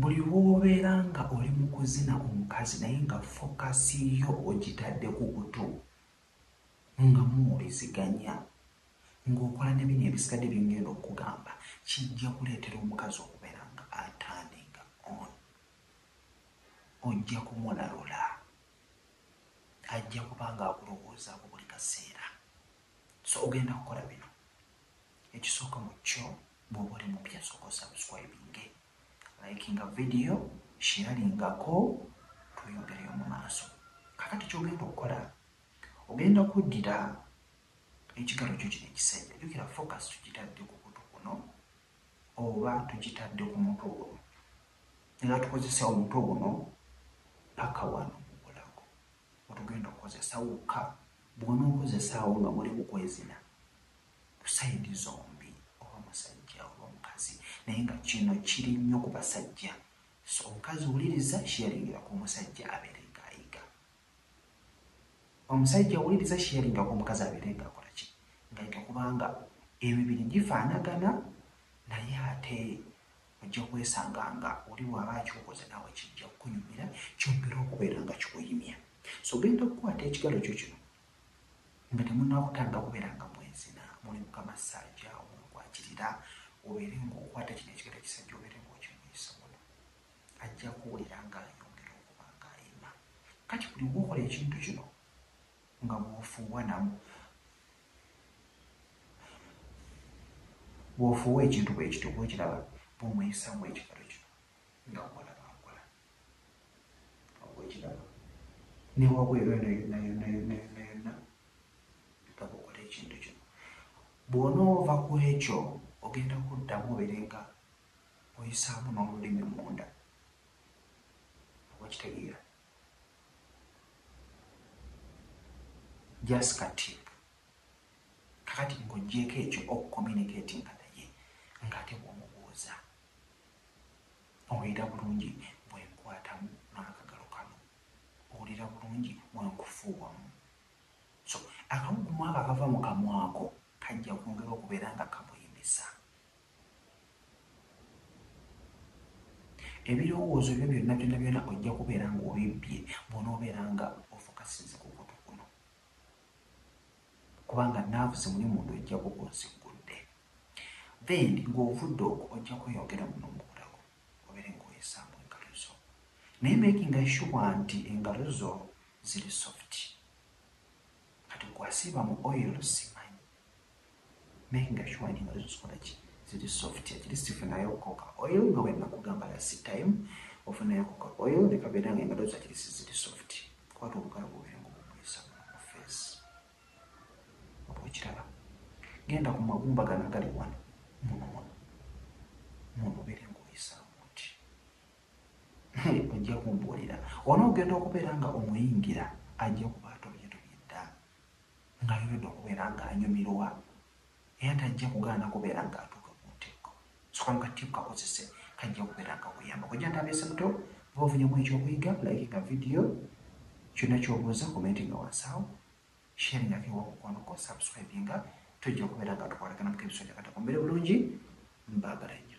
Buli lw'obeera nga oli mu kuzina omukazi naye nga focus yo ogitadde ku buto nga muwuliziganya ng'okola ne bino ebisigadde bye ngenda okukugamba kijja kuleetera omukazi okubeera nga a turning on. Ojja kumulalula, ajja kuba ng'akulowoozaako buli kaseera. So ogenda kukola bino, ekisooka mu kyo Bwoba oli mupya sooka osubscribinge, likinga video, sharelingako tweyongereyo mu maaso. Kakati kyogenda okukola ogenda kuddira ekigalo kyo kino ekisajja, jukira focus tukitadde ku kutu kuno oba tukitadde ku mutwe guno, era tukozesa omutwe guno paka wano mubulago otugenda okukozesa wokka bwonookozesaawo nga muli mukwezina. ku side zombi oba musajja oba mukazi naye nga kino kiri nnyo ku basajja so omukazi wuliriza sharingira ku musajja abeere nga ayiga omusajja wuliriza sharinga ku omukazi abeere nga akola ki nga yiga kubanga emibiri gifaanagana naye ate ojja kwesanga nga oli waaba akyokoze naawe kijja kukunyumira kyongera okubeera nga kikuyimya so genda okukwata ekigalo kyo kino Nga temunakutanira kubera nga mwezina muli mukama saja omu nkwakirira obere nga okwata kino ekigere kisaja obere nga okimuyisa muno ajja kuwulira nga ayongera okuba nga ayima kati buli wokola ekintu kino nga bwofuuwa namu bwofuuwa ekintu bwekityo bwekiraba bwomuyisamu ekigero kino nga bwolaba nkola okukiraba ne wabweru eno yonna yonna yonna yonna yonna mpaka okola ekintu kino bw'onoova ku ekyo ogenda kuddamu obeere nga oyisaamu n'olulimi munda okitegeera just kati kakati ng'ogyeko ekyo okucommunicatinga naye ng'ate bw'omubuuza Owulira bulungi bwe nkwatamu n'akagalo kano? Owulira bulungi bwe nkufuuwamu? So, akawuugumu ako akava mu kamwa ko kajja kwongera okubeera nga kamuyimisa. Ebirowoozo byo byonna byonna byonna ojja kubeera ng'obibbye bw'onoobeera nga ofokasize ku kutu kuno. Kubanga naavu ze muli munda ojja kuba oziggudde. Then nga ovudde okwo ojja kweyongera muno omukutako obere nga oyisaamu engalo zo naye makinga sure nti engalo zo ziri soft kati gwasiiba mu oil simanyi makinga sure nti engalo zo zikola ki ziri soft at least funayo okoka oil nga wenakugamba last time ofunayo okoka oil nekabeera nga engalo zo at least ziri soft kwata obugalo bubere nga obumuyisa mu face Oba okiraba, genda ku magumba gano agali wano, muno muno, muno obeere ng'oyisaamu oti. Ojja kumbuulira. Onoogenda okubeera nga omuyingira, ajja kuba atobye tobye dda, ng'ayongedde okubeera ng'anyumirwa. Era tajja kugaana kubeera nga atuuka ku ntikko. Soka mu kattiipu kakozese, kajja kubeera nga kakuyamba. Kojja ntambeese buto, bwoba ofunyeemu eky'okuyiga, likinga vidiyo, kyonna ky'obuuza, komentinga wansi awo, sharingako ewa mukwano gwo, sabusikurayibinga, tujja kubeera nga tukwatagana mu k'ebiso gya katako. Mubeere bulungi, mbaagala nnyo.